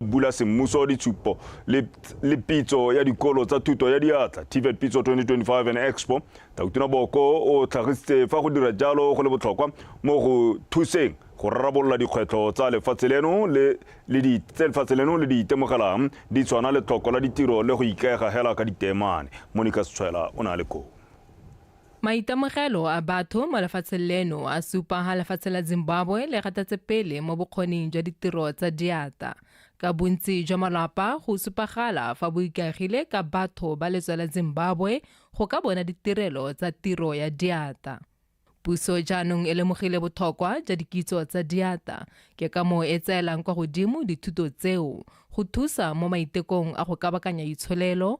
bula semmuso ditshupo le, le pitso ya dikolo tsa thuto ya diatla tvet pitso 2025 and expo tautona boko o tlhagisitse fa go dira jalo go le botlhokwa mo go thuseng go rarabolola dikgwetlho tsa lefatshe leno le le di tse lefatshe leno le di itemogelang di tshwana le tlhoko la ditiro le go ikaega hela ka ditemane monica setshwela o ne a le koo Maitemogelo a batho mo lefatsheng leno a supa ha lefatshe la Zimbabwe le gatatse pele mo bokgoning jwa ditiro tsa diata. Ka bontsi jwa malwapa go supagala fa bo ikaegile ka batho ba letswa la Zimbabwe go ka bona ditirelo tsa tiro ya diata. Puso jaanong e lemogile bothokwa jwa dikitso tsa diata, ke ka moo e tseelang kwa godimo dithuto tseo go thusa mo maitekong a go kabakanya itsholelo,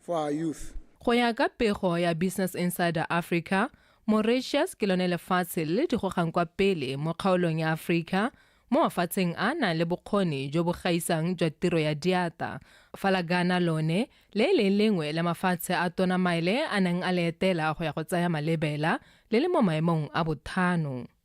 for our youth. Go ya ka pego ya Business Insider Africa, Mauritius ke lone lefatshe le le digogang kwa pele mo kgaolong ya Africa mo mafatsheng a nang le bokgoni jo bo gaisang jwa tiro ya diata, fa la Ghana lone le e leng lengwe la mafatshe a Tona Maile a neng a le etela go ya go tsaya malebela le le mo maemong a bothano.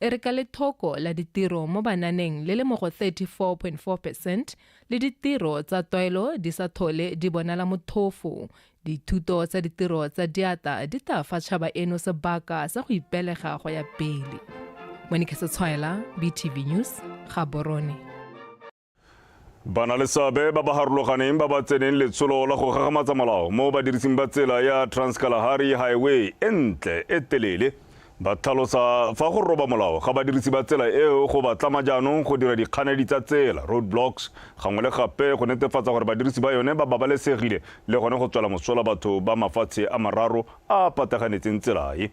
e re ka lethoko la ditiro mo bananeng le le mo go 34.4 percent le ditiro tsa toilo di sa thole di bonala mothofo. Dithuto tsa ditiro tsa diata di tla fa tšhaba eno sebaka sa go ipelega go ya pele. Monique Setshwaela, BTV News, Gaborone. ba na le seabe ba ba harologaneng ba ba tseneng letsholo la go gagamatsa molao mo badirising ba tsela ya transkalahari highway e ntle e telele ba tlhalosa fa go roba molao ga badirisi ba tsela eo go ba tlama jaanong go dira dikganedi tsa tsela road blocks gangwe le gape go netefatsa gore badirisi ba yone ba babalesegile le gone go tswela mosola batho ba mafatshe a mararo a pataganetseng tselae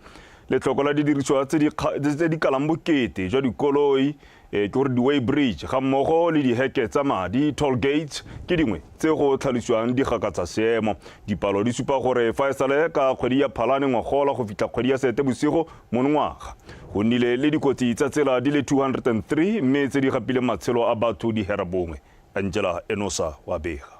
letlhoko la didirisiwa tse di kalang bokete jwa dikoloi e ke gore di-way bridge ga mmogo le diheke tsa madi toll gates ke dingwe tse go tlhalosiwang di gakatsa seemo dipalo di supa gore fa e sale ka kgwedi ya phalane ngwagola go fitlha kgwedi ya sete bosigo monongwaga go nnile le dikotsi tsa tsela di le 203 mme tse di gapileng matshelo a batho di hera bongwe angela enosa wa bega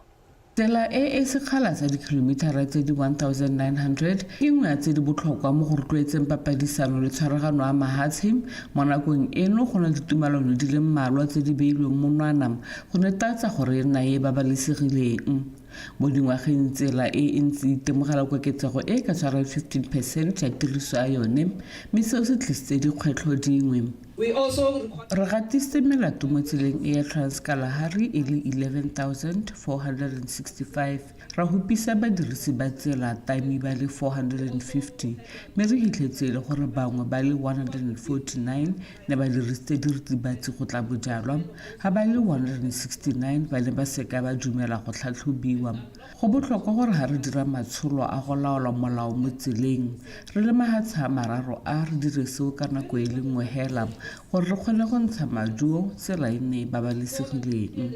Tsela e e sekgala sa dikilomithara tse di 1 900 ke nngwe ya tse di botlhokwa mo go rotloetseng papadisano le tshwaragano ya mahatshe. Mo nakong eno go na ditumalano di le mmalwa tse di beilweng monwana go netatsa gore e nna e e babalesegileng. Mo dingwageng tsela e e ntse e itemogela koketsego e e ka tshwarang 15 percent ya tiriso ya yone mme seo se tlisitse dikgwetlho dingwe. Re gatisitse melato mo tseleng e ya Trans-Kalahari e le 11,465, ra hupisa badirisi ba tsela taimi ba le 450 mme re hitlhetse e le gore bangwe ba le 149 ne ba dirisitse diritibatsi go tla bojalwa, ha ba le 169 ba ne ba seka ba dumela go tlhatlhobiwa. Go botlhokwa gore ga re dira matsholo a go laola molao mo tseleng, re le mahatsha a mararo a re dire seo ka nako e le nngwe hela gore re kgone go ntsha maduo tsela e nne e babalesegileng.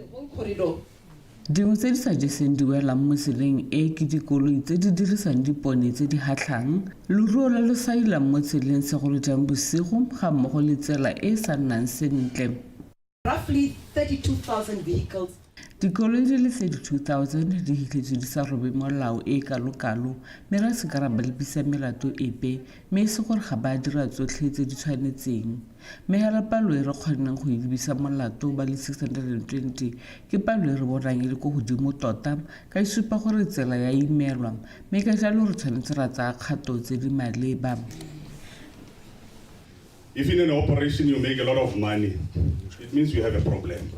Dingwe tse di sa jeseng di welang mo tseleng e ke dikoloi tse di dirisang dipone tse di hatlhang, loruo lo lo sailang mo tseleng segolo jang bosigo ga mmogo le tsela e e sa nnang sentle. roughly 32,000 vehicles Dikoloi di le 32,000 di hitlhetswe di sa robe molao e kalokalo mme re se ka ra ba lebisa melato epe mme e se gore ga ba dira tsotlhe tse di tshwanetseng. Mme hela palo e re kgonneng go e lebisa molato ba le 620 ke palo e re bonang e le ko godimo tota ka e supa gore tsela ya imelwa mme ka jalo re tshwanetse ra tsaya kgato tse di maleba. If in an operation you make a lot of money, it means you have a problem.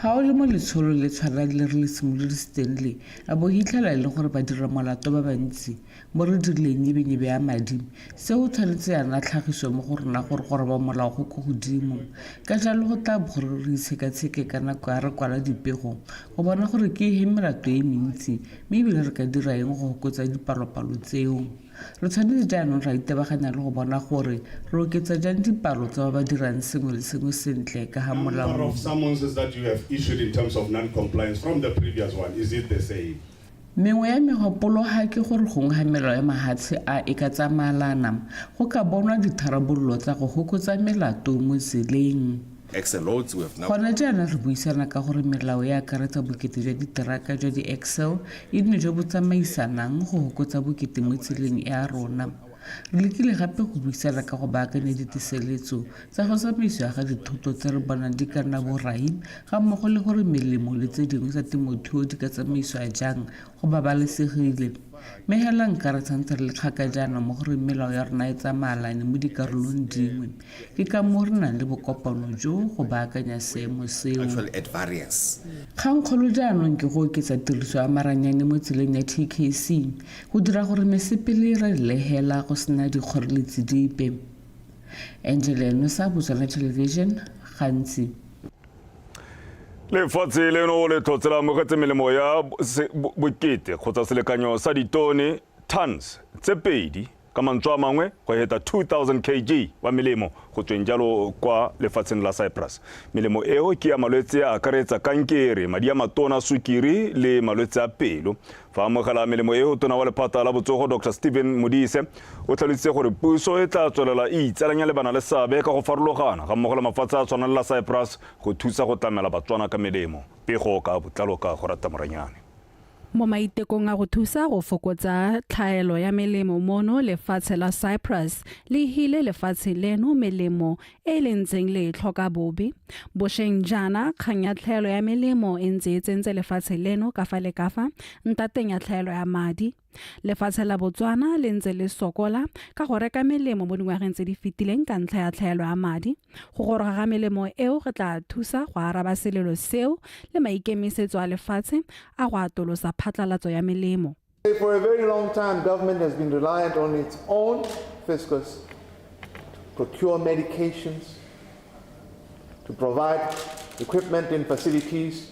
ga o le mo letsholo le tshwana le re le simolodi stanley a bo hitlhela e le gore ba dira molato ba bantsi mo re dirileng nyebenyebe ya madi seo tshwanetse yana tlhagiso mo go rona gore gore ba molao go ko godimo ka jalo go tla bo gore re itshekatsheke ka nako ya re kwala dipego go bona gore ke he melato e mentsi mme ebile re ka dira eng go gokotsa dipalopalo tseo Re tshwanetse jaanong ra itebaganya le go bona gore re oketsa jang dipalo tsa ba ba dirang sengwe le sengwe sentle ka ga molao. Mengwe ya megopolo ga ke gore gongwe ga melao ya mahatshe a e ka tsamaelana, go ka bonwa ditharabololo tsa go hokotsa melato mo tseleng. Gona jaana re buisana ka gore melao e akaretsa bokete jwa diteraka jwa di-axel e nne jo bo tsamaisanang go hokotsa bokete mo tseleng e a rona. Re lekile gape go buisana ka go baakanya ditiseletso tsa go tsamaisiwa ga dithoto tse re bonang di ka nna borai ga mmogo le gore melemo le tse dingwe tsa temothuo di ka tsamaisiwa jang go babalesegile. Mme hela nka re tshwanetse re le kgaka jaana mo goreng melao ya rona e tsamaalane mo dikarolong dingwe. Ke ka moo re nang le bokopano jo go baakanya seemo seo. Kgangkgolo jaanong ke go oketsa tiriso ya maranyane mo tseleng ya TKC go dira gore mesepele e ralele hela go sena dikgoreletsi dipe. Angela Enosa, Botswana Television, Gantsi. Lefatshe leno le tlhotse la amogetse melemo ya bokete kgotsa selekanyo sa ditone, tons, tse pedi Ka mantswe a mangwe, go heta 2,000 kg wa melemo go tsweng jalo kwa lefatsheng la Cyprus. Melemo eo ke ya malwetse a akaretsa kankere, madi a matona a sukiri le malwetse a pelo. Fa amogela melemo eo, tona wa lephata la botsogo Dr Stephen Modise o tlhalositse gore puso e tla tswelela e itsalanya le bana le seabe ka go farologana ga mmogo le mafatshe a tshwana le la Cyprus go thusa go tlamela Batswana ka melemo. Pego ka botlalo ka go rata Moranyane. Mo maitekong a go thusa go fokotsa tlhaelo ya melemo mono, lefatshe la Cyprus le hile lefatshe leno melemo e le ntseng le e tlhoka bobe. Bosheng jaana, kgang ya tlhaelo ya melemo e ntse e tsentse lefatshe leno ka fa le ka fa ntateng ya tlhaelo ya madi. Lefatshe la Botswana le ntse le sokola ka go reka melemo mo dingwageng tse di fetileng ka ntlha ya tlhaelo ya madi. Go goroga ga melemo eo go tla thusa go araba selelo seo le maikemisetso a lefatshe a go atolosa phatlalatso ya melemo. For a very long time, government has been reliant on its own fiscus to procure medications, to provide equipment and facilities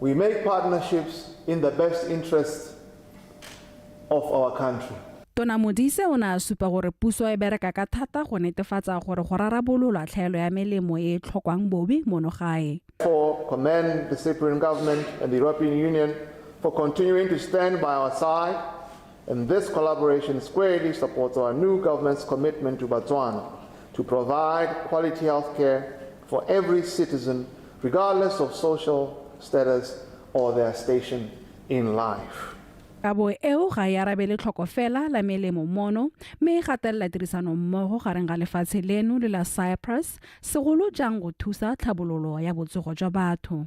We make partnerships in the best interests of our country. Tona Modise o ne a supa gore puso e bereka ka thata go netefatsa gore go rarabololwa tlhaelo ya melemo e e tlhokwang bobe mono gae. For commend the Cyprian government and the European Union for continuing to stand by our side And this collaboration squarely supports our new government's commitment to Botswana to provide quality health care for every citizen, regardless of social status or their station in life. kabo eo ga e arabele tlhoko fela la melemo mono mme e gatelela tirisano mmogo gareng ga lefatshe leno le la cyprus segolo jang go thusa tlhabololo ya botsogo jwa batho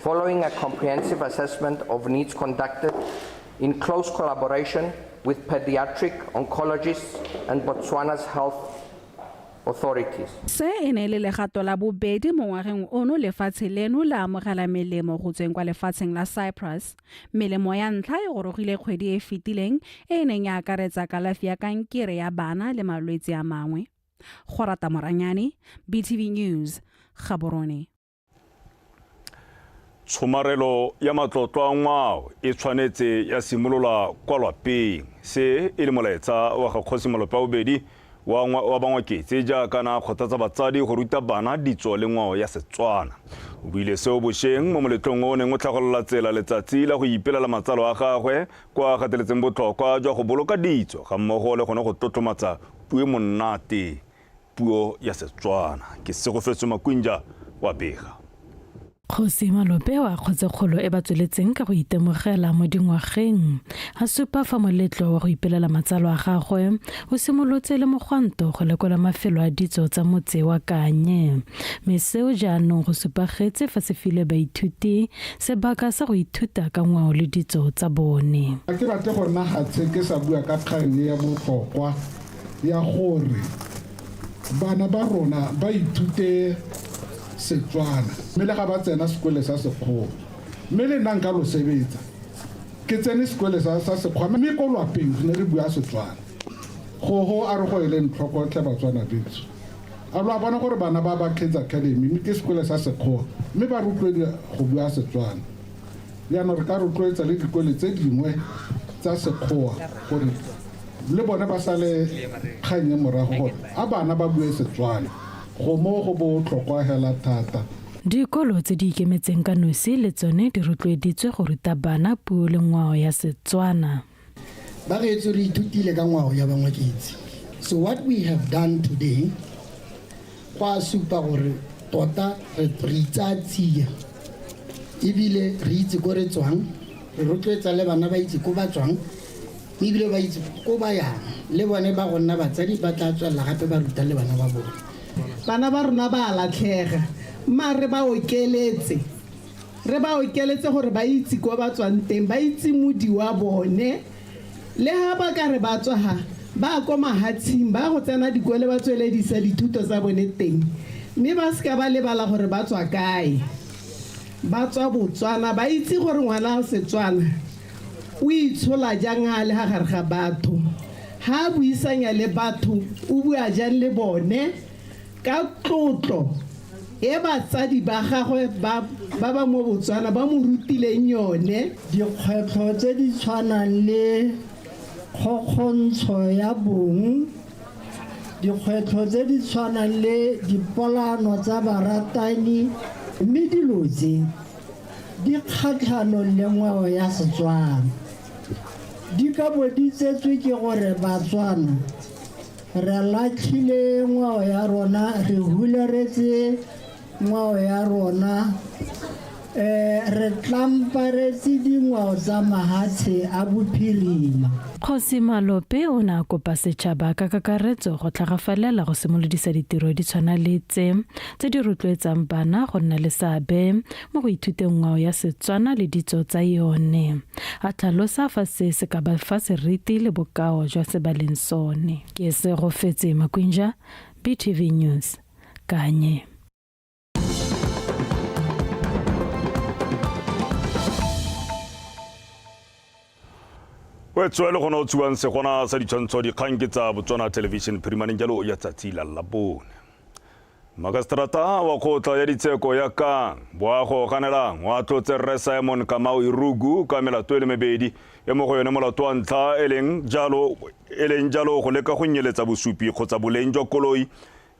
Following a comprehensive assessment of needs conducted in close collaboration with pediatric oncologists and Botswana's health authorities. Se e ne le legato la bobedi mo ngwageng ono lefatshe leno la amogela melemo go tsweng kwa lefatsheng la Cyprus. Melemo ya ntlha e gorogile kgwedi e fetileng e e neng ya akaretsa kalafi ya kankere ya bana le malwetse a mangwe. Go rata Moranyane, BTV News, Gaborone. Tshomarelo ya matlotlo a ngwao e tshwanetse ya simolola kwa lwapeng. Se e le molaetsa wa ga Kgosi Malope wa bobedi wa wa Bangwaketse jaaka na kgothatsa batsadi go ruta bana ditso le ngwao ya Setswana. O buile seo bosheng mo moletlong o neng o tlhagolola tsela letsatsi la go ipelela matsalo a gagwe kwa a gateletseng botlhokwa jwa go boloka ditso ga mmogo le gone go tlotlomatsa puo monate Puo ya Setswana ke Segofetso Makwinja wa bega. Kgosi Malope wa Kgotsekgolo e ba tsweletseng ka go itemogela mo dingwageng, a supa fa moletlo wa go ipelela matsalo a gagwe o simolotse le mogwanto go lekola mafelo a ditso tsa motse wa Kanye, mme seo jaanong go supagetse fa se file baithuti sebaka sa go ithuta ka ngwao le ditso tsa bone. Ga ke batle go nna gatshe ke sa bua ka kgang e ya botlhokwa. ya gore bana ba rona ba ithute Setswana mme le ga ba tsena sekole sa Sekgowa mme le nna nka lo sebetsa ke tsene sekole sa Sekgowa mme ko lwapeng re ne re bua Setswana gogo a re go e leng tlhokotlhe Batswana betso a lo a bona gore bana ba ba Kids Academy mme ke sekole sa Sekgowa mme ba rotloediwa go bua Setswana Jaanong re ka rotloetsa le dikole tse dingwe tsa Sekgoa gore le bone ba sale kgang e morago gore a bana ba bue Setswana. Go moo go botlhokwa hela thata. Dikolo tse di ikemetseng ka nosi le tsone di rotloeditswe go ruta bana puo le ngwao ya Setswana. Ba gaetsho re ithutile ka ngwao ya bangwaketsi. So what we have done today go a supa gore tota re itsaya tsia ebile re itse ko re tswang re rotloetsa le bana ba itse ko ba tswang ebile ba itse ko ba yang le bone ba go nna batsadi ba tla tswelela gape ba ruta le bana ba bone bana ba rona ba a latlhega mma re ba okeletse re ba okeletse gore ba itse kwa ba tswang teng ba itse modi wa bone le ga ba ka re ba tswa ga ba ko mahatshing ba go tsena dikole ba tsweledisa dithuto tsa bone teng mme ba seka ba lebala gore ba tswa kae ba tswa botswana ba itse gore ngwana wa setswana o itshola jang a le ga gare ga batho ga a buisanya le batho o bua jang le bone Ka tlotlo e batsadi ba gagwe ba ba mo Botswana ba mo rutileng yone, dikgwetlho tse di tshwanang le kgokgontsho ya bong, dikgwetlho tse di tshwanang le dipolaano tsa baratani mme dilo tse di kgatlhanong le ngwao ya Setswana di ka bo di tsetswe ke gore Batswana Re latlhile ngwao ya rona, re hularetse ngwao ya rona, um re tlamparetse dingwao tsa mahatshe a bophirima. Kgosi Malope o ne a kopa setšhaba ka kakaretso go tlhagafalela go simolodisa ditiro di tshwana le tse, tse di rotloetsang bana go nna le seabe mo go ithuteng ngwao ya Setswana le ditso tsa yone. A tlhalosa fa se se ka ba fa seriti le bokao jwa se ba leng sone. Ke se go fetse Makwinja, BTV News, Kanye. o etswe le gona o tshiwang segona sa ditshwantsho dikgang ke tsa botswana television phirimaneng jalo ya tsatsi la labone makaseterata wa kgotla ya ditsheko ya kang boago ganelang wa tlotse rre simon kamao irugu ka melato e le mebedi e mo go yone molato wa ntlha e leng jalo e leng jalo go leka go nyeletsa bosupi kgotsa boleng jwa koloi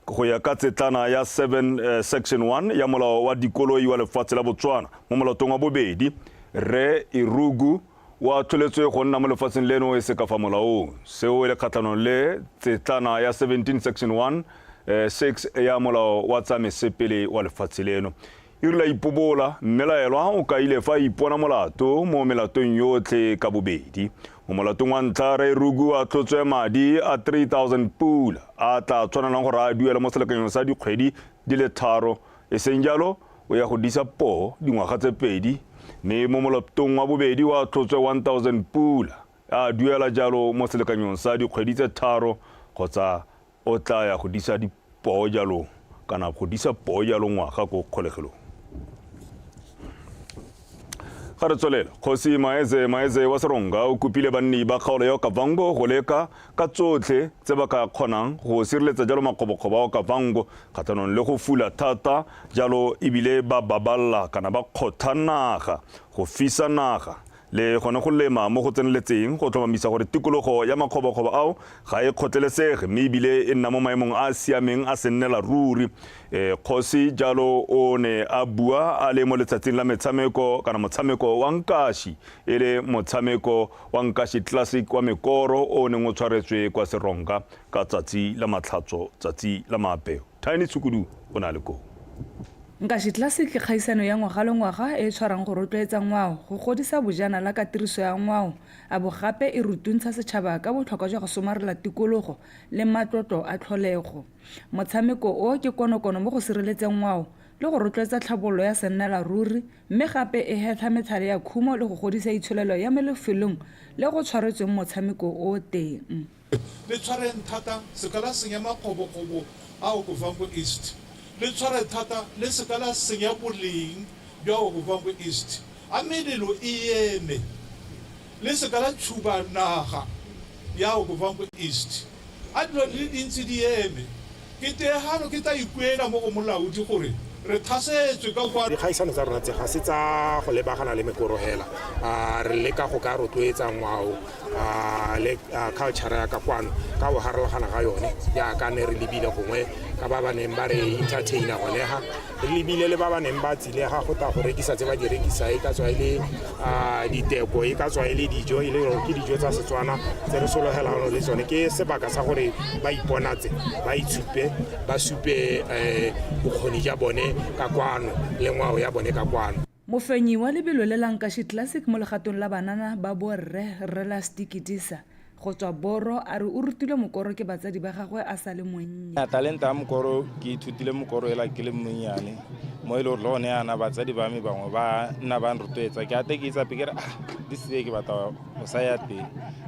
Go ya ka tsetlana ya 7 eh, section 1 ya molao wa dikoloi wa lefatshe la Botswana mo molatong wa bobedi, Rre Irugu o a tlholetswe go nna mo lefatsheng leno e se ka fa molaong. Seo e le kgatlhanong le tsetlana ya 17 section 1 eh, 6 ya molao wa tsa mesepele wa lefatshe leno. E rile a ipobola, mmelaelwa o kaile fa a ipona molato mo melatong yotlhe ka bobedi. Mo molatong wa ntlha, Rre Ruku a tlotswe madi a 3000 pula a a tla tshwanelang gore a duele mo selekanyong sa dikgwedi di le tharo, e seng jalo o ya go disa poo dingwaga tse pedi. Mme mo molatong wa bobedi o a tlotswe 1000 pula a a duela jalo mo selekanyong sa dikgwedi tse tharo kgotsa O tlaa ya go disa dipoo jalo kana go disa poo jalo ngwaga ko kgolegelong. Ga re tswelele, Kgosi Maeze Maeze wa Seronga o kopile banni ba kgaolo ya Okavango go leka ka tsotlhe tse ba ka kgonang go sireletsa jalo makgobokgobo a Okavango kgatlhanong le go fula thata jalo ebile ba baballa kana ba kgotha naga go fisa naga Le gone go lema mo go tseneletseng go tlhomamisa gore tikologo ya makgobokgobo ao ga e kgotlelesege mme ebile e nna mo maemong a a siameng a sennela ruri. Kgosi jalo o ne a bua a le mo letsatsing la metshameko kana motshameko wa nkashi e le motshameko wa Nkashi Classic wa mekoro o o neng o tshwaretswe kwa Seronka ka tsatsi la Matlhatso, tsatsi la Maapeo. Tiny Tshukudu o ne a le koo. Nkashi Classic ke kgaisano ya ngwaga le ngwaga e e tshwarang go rotloetsa ngwao, go godisa bojanala ka tiriso ya ngwao, a bo gape e rutuntsha setšhaba ka botlhokwa jwa go somarela tikologo le matlotlo a tlholego. Motshameko o ke konokono mo go sireletseng ngwao le go rotloetsa tlhabololo ya sennela ruri mme gape e hetlha metlhale ya khumo le go godisa itsholelo ya mo lefelong le go tshwaretsweng motshameko o teng. Le tshwareng thata seka la senya makgobokgobo a Okovango East. Le tshware thata le seka la senya boleng bja Okovango East. A melelo e eme. Le seka la tšhuba naga ya Okovango East. A dilo di le dintsi di eme. Ke teegano ke tla ikuela mo go Molaodi gore re thasetswe ka kwa. Dikgaisano tsa rona tse ga se tsa go lebagana le mekoro hela. Re leka go ka rotloetsa ngwao le culture ya ka kwano ka go harologana ga yone jaaka ne re lebile gongwe ka ba ba neng ba re entertainer gone ha. re lebile le ba ba neng ba tsilega go tla go rekisa tse ba di rekisa e ka tswa e le diteko e ka tswa e le dijo e le ke dijo tsa setswana tse re sologelang le tsone ke sebaka sa gore ba iponatse ba itshupe ba supe bokgoni ja bone ka kwano le ngwao ya bone ka kwano Mofenyi wa lebelo le la Nkashi Classic mo legatong la banana ba borre, Rre Lasty Kidisa, go tswa Boro, a re o rutilwe mokoro ke batsadi ba gagwe a sa le monnye. Talente ya mokoro ke ithutile mokoro ela ke le mmonnyane mo e le gore le gone yana batsadi ba me bangwe ba nna ba nrotloetsa ke ate ke itsape ke re ah this year ke batla go saya teng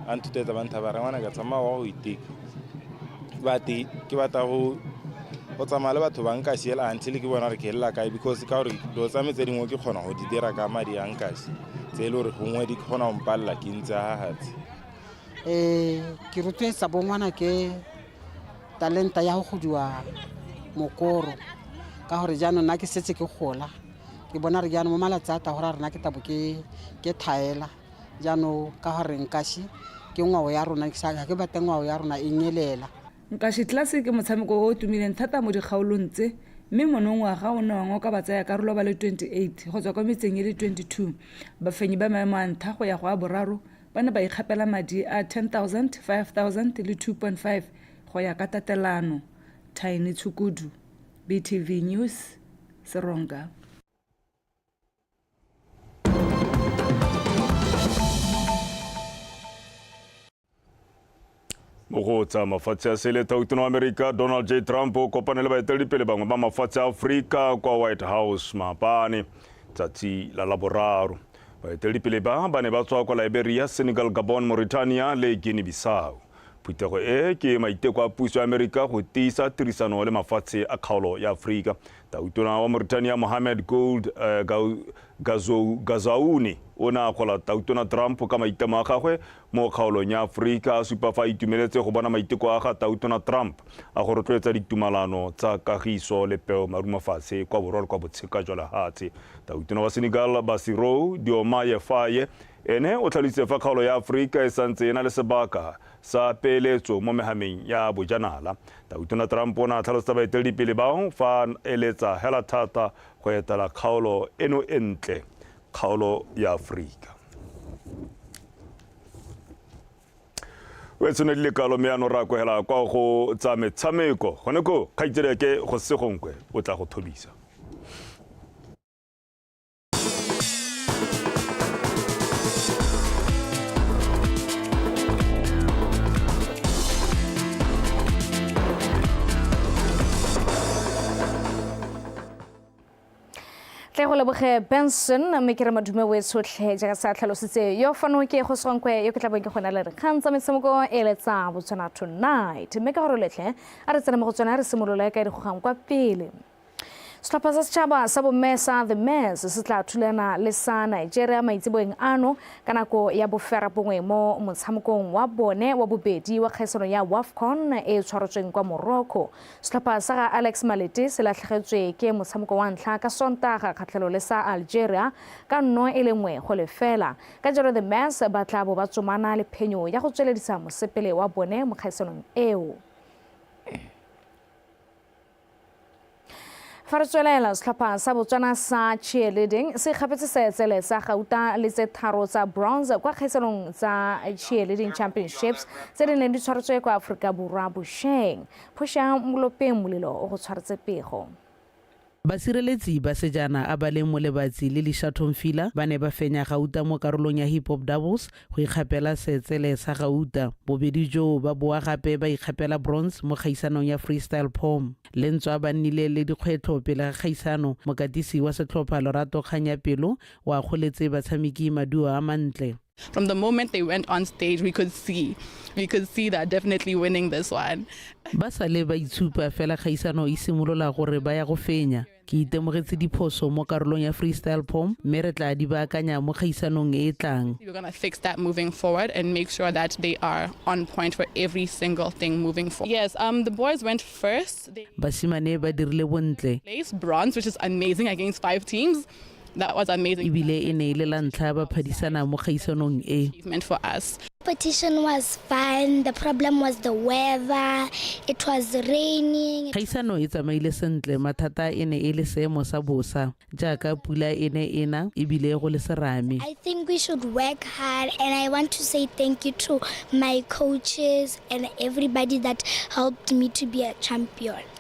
ba nthutloetsa ba nthaba re ngwana ka tsamaya wa go iteka bate ke batla go go tsamaya le batho ba nka siela until ke bona re ke elela kae because ka gore dilo tsa me tse dingwe ke kgona go di dira ka madi a nkasi tse e le gore gongwe di kgona go mpalela ke ntse gagatse um ke rotloetsa bongwana ke talenta ya go godiwa mokoro ka gore jaanong nna ke setse ke gola ke bona re jaanong mo malatsi a tagora rena ke tabo ke thaela jaanong ka gore nkashi ke ngwao ya rona ga ke batle ngwao ya rona e nyelela nkashi tlase ke motshameko o o tumileng thata mo dikgaolong tse mme monongwaga o ne wa ngoka batsayakarolo ba le 28 go tswa kwa metseng e le 22 bafenyi ba maemo a ntlha go ya go a boraro ba ne ba ikgapela madi a 10000 5000 le 2.5 go ya ka tatelano tiny tshukudu btv news seronka go tsa mafatshe a sele thautona wa amerika donald j trump o kopane le baeteledipele bangwe ba mafatshe a aforika kwa white house maapane tsatsi la laboraro baeteledipele ba ba ne ba tswa kwa liberia senegal gabon mauritania le guinea bissau phuthego e ke maiteko a puso ya amerika go tiisa tirisano le mafatshe a kgaolo ya aforika Tautona wa Mauritania Mohamed Gould uh, Gazaouni o ne a kgola Tautona Trump ka maitamo a gagwe mo kgaolong ya Aforika a supa fa a itumeletse go bona maiteko a ga Tautona Trump a go rotloetsa ditumalano tsa kagiso le peo marumafatshe kwa borwa le kwa botsheka jwa lehatshe. Tautona wa Senegal Bassirou Diomaye Faye ene o tlhalositse fa kgaolo ya Aforika e santse e na le sebaka sa peeletso mo mehameng ya bojanala Tona Trump o ne a tlhalosetsa baeteledipele bao fa a eletsa hela thata go etela kgaolo eno e ntle, kgaolo ya Aforika. o e tshwane le kalo mme ya no ra kwegela kwa go tsa metshameko gone ko kgaitsedi ke go segonkwe o tla go thobisa tle go leboge benson mme ke re madume o e tshotlhe jaaka sa tlhalositse yo fano ke go swankwe yo ke tla bong ke gona le re kgang tsa metshameko e letsa botswana tonight mme ka gore letlhe a re tsena mo go tsone a re simolole ka e di gogang kwa pele Setlhopha sa setšhaba sa bomme sa The Mares se tla thulana le sa Nigeria maitseboeng ano ka nako ya boferabongwe mo motshamekong wa bone wa bobedi wa kgaisano ya WAFCON e tshwarotsweng kwa Morocco. Setlhopha sa ga Alex Malete se latlhegetswe ke motshameko wa ntlha ka Sontaga kgatlhelo le sa Algeria ka nno e le nngwe go lefela. Ka jalo The Mares ba tla bo ba tsomana le phenyo ya go tsweledisa mosepele wa bone mo kgaisanong eo. Fa re tswelela, setlhopha sa Botswana sa cheerleading se kgapetse seetsele sa gauta le tse tharo tsa bronze kwa kgaitsanong tsa cheerleading championships tse di neng di tshwaretswe kwa aforika borwa bosheng phosha molopeng molelo o go tshwaretse pego Basireletsi ba sejana a ba leng Molebatsi le Lishatho Mfila ba ne ba fenya gauta mo karolong ya hip hop doubles go ikgapela seetsele sa gauta. Bobedi joo ba boa gape ba ikgapela bronze mo kgaisanong ya freestyle pom. Le ntswa ba nnile le dikgwetlho pele ga kgaisano, mokatisi wa setlhopha Lorato Kganyapelo o akgoletse batshameki maduo a mantle. From the moment they went on stage we could see we could see they're definitely winning this one. Ba sale ba itshupa fela kgaisano e simolola gore ba ya go fenya. ke itemogetse diphoso mo karolong ya freestyle pom mme re tla di baakanya mo kgaisanong e e tlang We're going to fix that moving forward and make sure that they are on point for every single thing moving forward. Yes, um, the boys went first. They basimane ba dirile bontle placed bronze, which is amazing against five teams. ebile e ne e le la ntlha ba phadisana mo kgaisanong e competition was fun. The problem was the weather. It was raining. Khaisano e tsamaile sentle mathata e ne e le seemo sa bosa jaaka pula e ne e na ebile go le serame. I think we should work hard and I want to say thank you to my coaches and everybody that helped me to be a champion.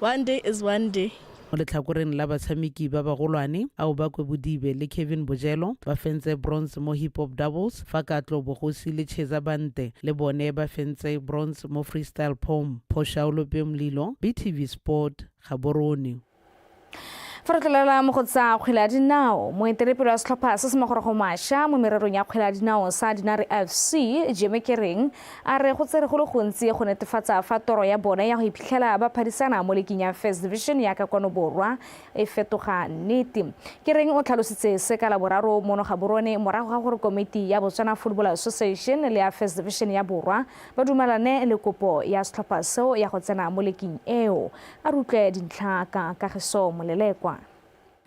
One day is one day. Mo letlhakoreng la batshameki ba bagolwane, Aobakwe Bodibe le Kevin Bojelo ba fentse bronze mo hip hop doubles, fa Katlo Bogosi le Cheza Bante le bone ba fentse bronze mo freestyle pom pho Shaulo Peomlilo, BTV Sport, Gaborone. Fa re tlolela mo go tsa kgwele ya dinao, moetelepele wa setlhopha se se magorogo masha mo mererong ya kgwele ya dinao sa Dinare FC, Jeme Kereng, A re go tsere go le gontsi go netefatsa fa toro ya bone ya go iphitlhela ba phadisana mo liking ya First Division ya ka kwano borwa e fetoga nnete. Kereng o tlhalositse se ka Laboraro mono Gaborone morago ga gore komiti ya Botswana Football Association le ya First Division ya Borwa ba dumalane le kopo ya setlhopha seo ya go tsena mo liking eo. A re utlwe dintlha ka Kagiso Molelekwa.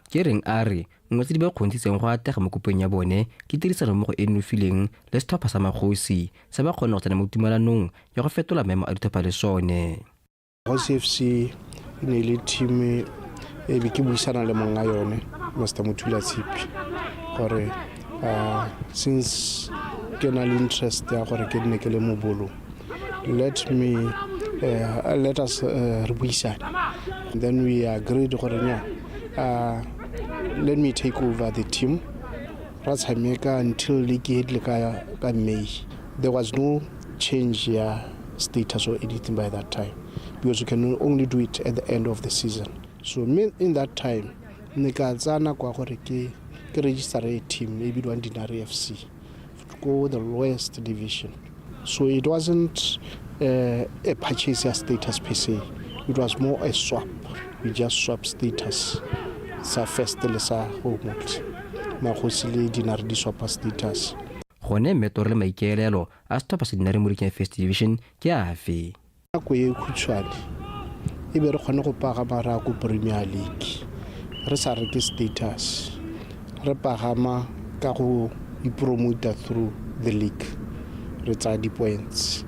Kereng a re nngwe tse di ba kgontshitseng go atlega mo kopong ya bone ke tirisanommogo e e nofileng le setlhopha sa Magosi se ba kgonne go tsena mo tumalanong ya go fetola maemo a ditlhopha le sone. Magosi FC e ne e le team e be ke buisana le monga yone Master Mothula Tshipi gore since ke na le interest ya gore ke nne ke le mobolo let me uh, let us uh, re buisane then we agreed gore nya uh, let me take over the team ra tshameka until league e tle ka ka may there was no change ya status or anything by that time because you can only do it at the end of the season so me in that time ne ka tsaya nako ya gore ke ke register e team e bidiwang dinare f c ko the lowest division so it wasn't uh, a purchase ya status per se it was more a swap we just swap status sa first le sa homeworld magosi le dinare di swapa status gone mmetoro le maikaelelo a stop sa dinare mo rikeng first division ke afe nako e khutshwane e be re kgone go pagama re ya ko premier league re sa reke status re pagama ka go ipromota through the league re tsaya di-points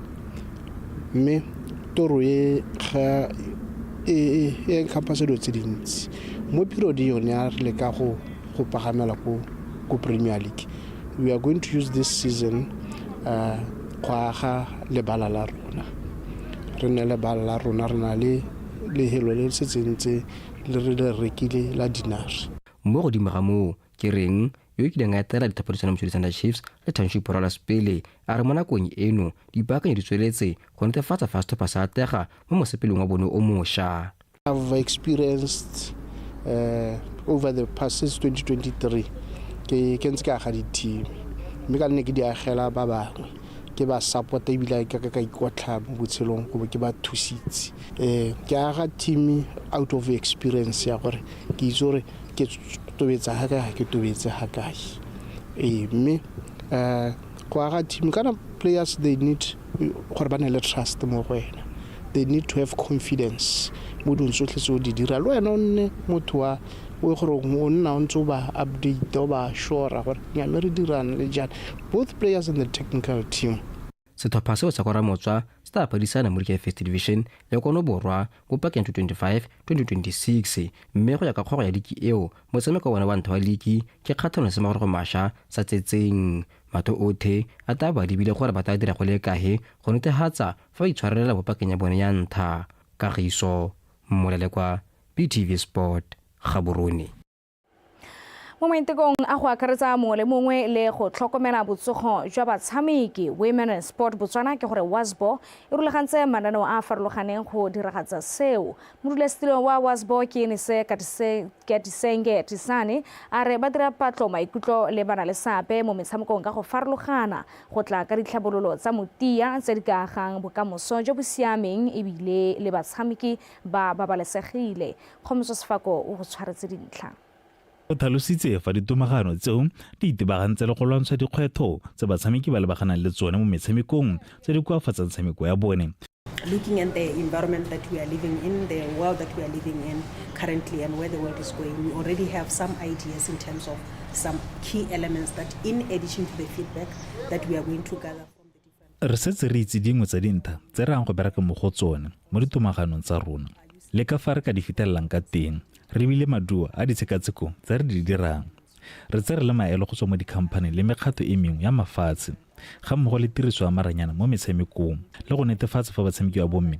mme toro e ga e encompass dilo tse dintsi mo period yone a re leka go go pagamela ko ko premier league we are going to use this season uh, go aga lebala la rona re nne lebala la rona re na le lehelo le le setseng tse le re le rekile la dinare Mo godimo ga moo, ke reng, yo o kileng a etela dithaphadisano Moswedi Thunder Chiefs le Township Rollers pele, a re mo nakong eno dipaakanyo di tsweletse go netefatsa fa setlhopha se atlega mo mosepelong wa bone o mosha. I've experienced uh, over the past since 2023 ke ke ntse ke aga di-team mme ka nne ke di agela ba bangwe ke ba support ebile ka ka ikotlha mo botshelong go ke ba thusitse um ke aga team out of experience ya gore ke itse gore ke tobetsa ga kae ga ke tobetse ga kae ee mme um go aga team kana players they need gore ba ne le trust mo go wena they need to have confidence mo dong tsotlhe tse o di dira le wena o nne motho wa o e gore o nna o ntse o ba update o ba shora gore nyame re dirang le jang both players and the technical team setlhopha seo sa kwa ramotswa se tla phadisana mo dikefes division le kono borwa Ko pakeng ya 2025, 2026 mme go ya ka kgoro ya liki eo, motshameko wa bone wa ntlha wa liki ke kgatlhanong le semagorogo masha sa tsetseng. Matho othe a taa bo a lebile gore ba taa dira go le kae go netehatsa fa ba itshwarelela mo pakeng ya bone ya ntlha. Kagiso Molelekwa, BTV Sport, Gaborone. mo maitekong a go akaretsa mongwe le mongwe le go tlhokomela botsogo jwa batshameki women and sport botswana ke gore wasbo e rulagantse mananeo a a farologaneng go diragatsa seo modulasetilo wa wasbo ke enise katisenge tisane a re ba dira patlo maikutlo le bana le seabe mo metshamekong ka go farologana go tla ka ditlhabololo tsa motia tse di ka agang bokamoso jo bo siameng ebile le batshameki ba babalesegile Kgomoso Sefako o go tshwaretse dintlha. O tlhalositse fa ditomagano tseo di itebagantse le go lwantsha dikgwetlho tse batshameki ba lebaganang le tsone mo metshamekong tse di koafatsang tshameko ya bone looking at the environment that we are living in, the world that we are living in currently, and where the world is going, we already have some ideas in terms of some key elements that, in addition to the feedback that we are going to gather. re setse re itse dingwe tsa dintlha tse re yang go bereka mo go tsone mo ditomaganong tsa rona le ka fa re ka di fitelelang ka teng re bile maduo a ditshekatsheko tse re di dirang re tse re le maelo go tswa mo dikhamphane le mekgato e mengwe ya mafatshe ga mmogo le tiriso ya maranyana mo metshamekong le go netefatsa fa batshameki ba bomme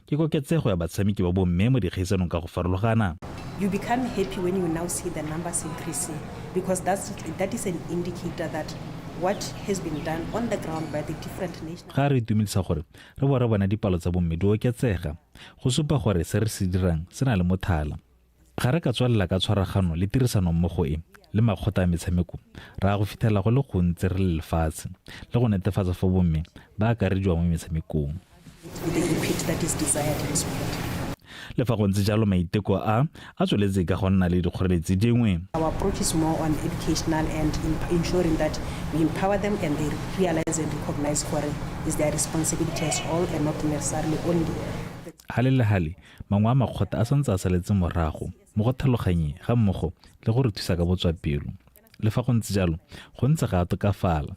Ke koketsego ya batshameki ba bomme mo dikgaisanong ka go farologana. You become happy when you now see the numbers increasing because that's, that is an indicator that what has been done on the ground by the different national. Ga re itumedisa gore re bo re bona dipalo tsa bomme di oketsega go supa gore se re se dirang se na le mothala. Ga re ka tswelela ka tshwaragano le tirisanommogo e le makgotla a metshameko, re ya go fitlhelela go le gontsi re le lefatshe le go netefatsa fa bomme ba akarediwa mo metshamekong. Le fa go ntse jalo, maiteko a a tsweletse ka go nna le dikgoreletsi dingwe. Gale le gale, Mangwe a makgotla a santse a saletse morago mo go tlhaloganyeng ga mmogo le go re thusa ka botswapelo. Le fa go ntse jalo, go ntse ga a tokafala.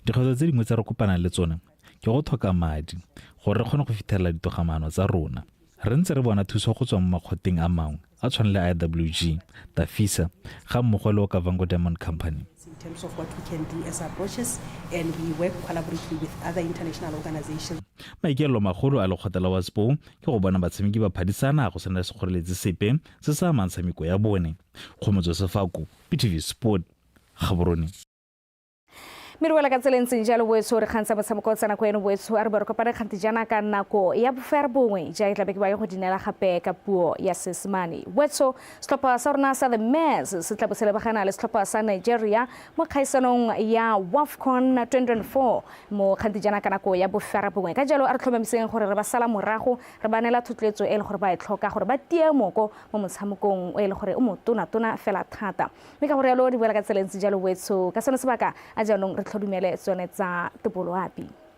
Dikgwetlho tse dingwe tse re kopanang le tsone ke go tlhoka madi gore re kgone go fithelela ditogamaano tsa rona. Re ntse re bona thuso go tswa mo makgotleng a mangwe a tshwane le IWG, Tafisa ga mmogo le Okavango Diamond Company. in terms of what we can do as approaches, and we work collaboratively with other international organizations. maikaelelo magolo a lekgotla la waspo ke go bona batshameki ba phadisana go sena le sekgoreletsi sepe se sa amang tshameko ya bone kgomotso sefako ptv sport gaborone mme re wela ka tsela e ntseng jalo boetso re kgantsha motshameko o tsena ko eno boetso a re bo re kopane kgante jaana ka nako ya bofere bongwe ja e tlabe ke ba ye go dinela gape ka puo ya seesemane boetso setlhopha sa rona sa the mars se tla bo se lebagana le setlhopha sa nigeria mo kgaisanong ya wafcon 2024 mo kgante jaana ka nako ya bofere bongwe ka jalo a re tlhomamiseng gore re ba sala morago re ba neela thotloetso e le gore ba e tlhoka gore ba tie moko mo motshamekong o e le gore o motonatona fela thata mme ka go rialo di boela ka tsela ntse jalo boetsho ka sone sebaka a jaanong re tlhodumele tsone tsa topoloapi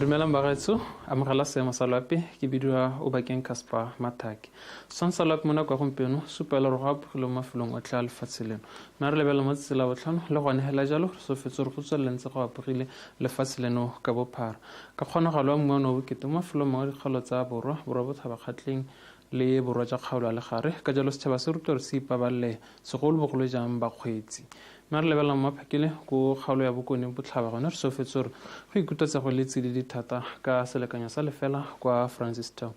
dumelang bagaetso amogela seemo sa loape ke bidiwa o bakeng casper mathake setswang sa loape mo nako ya gompieno supa le gore go apogile mo mafelong otlhe a lefatshe leno Mme re lebelela mo tsela botlhano, le gone hela jalo re sofetse re go tswelela ntse go apogile lefatshe leno ka bophara. Ka kgonagalo wa mmu wa no bokete mo mafelong mangwe a dikgaolo tsa borwa, borwa bothabakgatleng le borwa ja kgaolo ya legare, ka jalo setšhaba se rutwa re se ipabalele, segolo bogolo jang bakgweetsi. Mme re lebelela mo maphakele ko kgaolo ya bokone botlhaba gone re sofetse re go ikutwa tsego le tsididi thata ka selekanyo sa lefela kwa Francistown.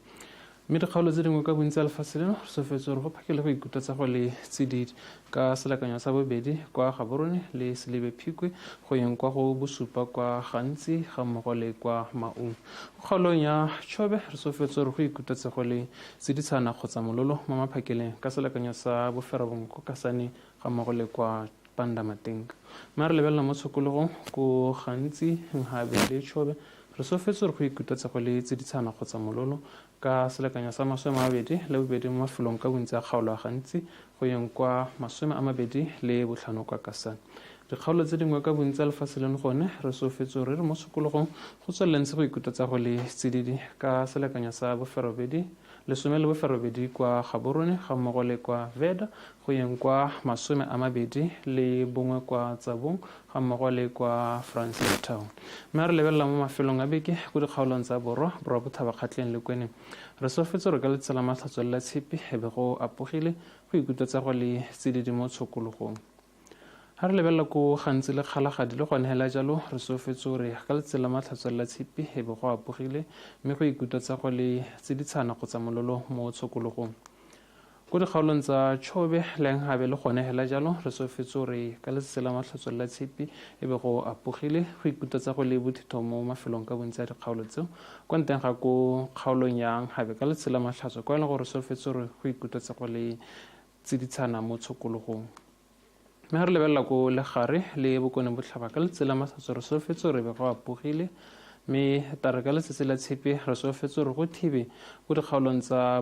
Mme dikgaolo tse dingwe ka bontsi tsa lefatshe leno re tsofetse gore go phakele go ikuta tsa go le tsididi. Ka selakanyo sa bobedi kwa Gaborone le Selibe Phikwe go yeng kwa go bosupa kwa Gantsi ga mmogo le kwa Maung. Go kgaolong ya Chobe re tsofetse gore go ikuta tsa go le tsiditshana kgotsa mololo mo maphakeleng ka selakanyo sa boferabongwe kwa Kasane ga mmogo le kwa Panda Matenka. Mme a re lebelela mo tshokologong ko gantsi Nhabe le Tshobe re sofetse gore go ikutetse go le tsiditshana kgotsa mololo ka selekanyo sa masome a mabedi le bobedi mo mafelong ka bontsi a kgaolo a gantsi go yeng kwa masome a mabedi le botlhano kwa kasane dikgaolo tse dingwe ka bontsi a lefatshe leno gone re sofetse gore re mo tshokologong go tswelelentse go ikutetse go le tsididi ka selekanyo sa boferobedi lesome le boferobedi kwa gaborone ga mmogo le kwa veda go yeng kwa masome a mabedi le bongwe kwa tsabong ga mmogo le kwa francel town mme re lebelela mo mafelong a beke ko dikgaolong tsa borwa borwa bothabakgatleng le kweneng re sofetse re ka letsatsi la matlhatswelo la tshepi e be go apogile go ikutlwetsa go le tsididi mo tshokologong ga re lebelela ko gantsi le kgalagadi le gone hela jalo re sofetse o re ka letsatsi la matlhatswelo la tshepi e be go apogile mme go ikutlwetsa go le tsiditshana kgotsa mololo mo tshokologong Ko dikgaolong tsa Chobe, Lenghabe le gone hela jalo re tsofetse gore ka letsatsi la matlhatso la Tshipi e be go apogile go ikuta tsa go le bothitho mo mafelong ka bontsi a dikgaolo tseo. Kwa nteng ga ko kgaolong ya Nghabe ka letsatsi la matlhatso kwa e leng gore re tsofetse gore go ikuta tsa go le tsiditshana mo tshokologong. Mme ga re lebelela ko legare le bokone botlhaba ka letsatsi la matlhatso re tsofetse gore be go apogile mme tare ka letsatsi la Tshipi re tsofetse gore go thibe ko dikgaolong tsa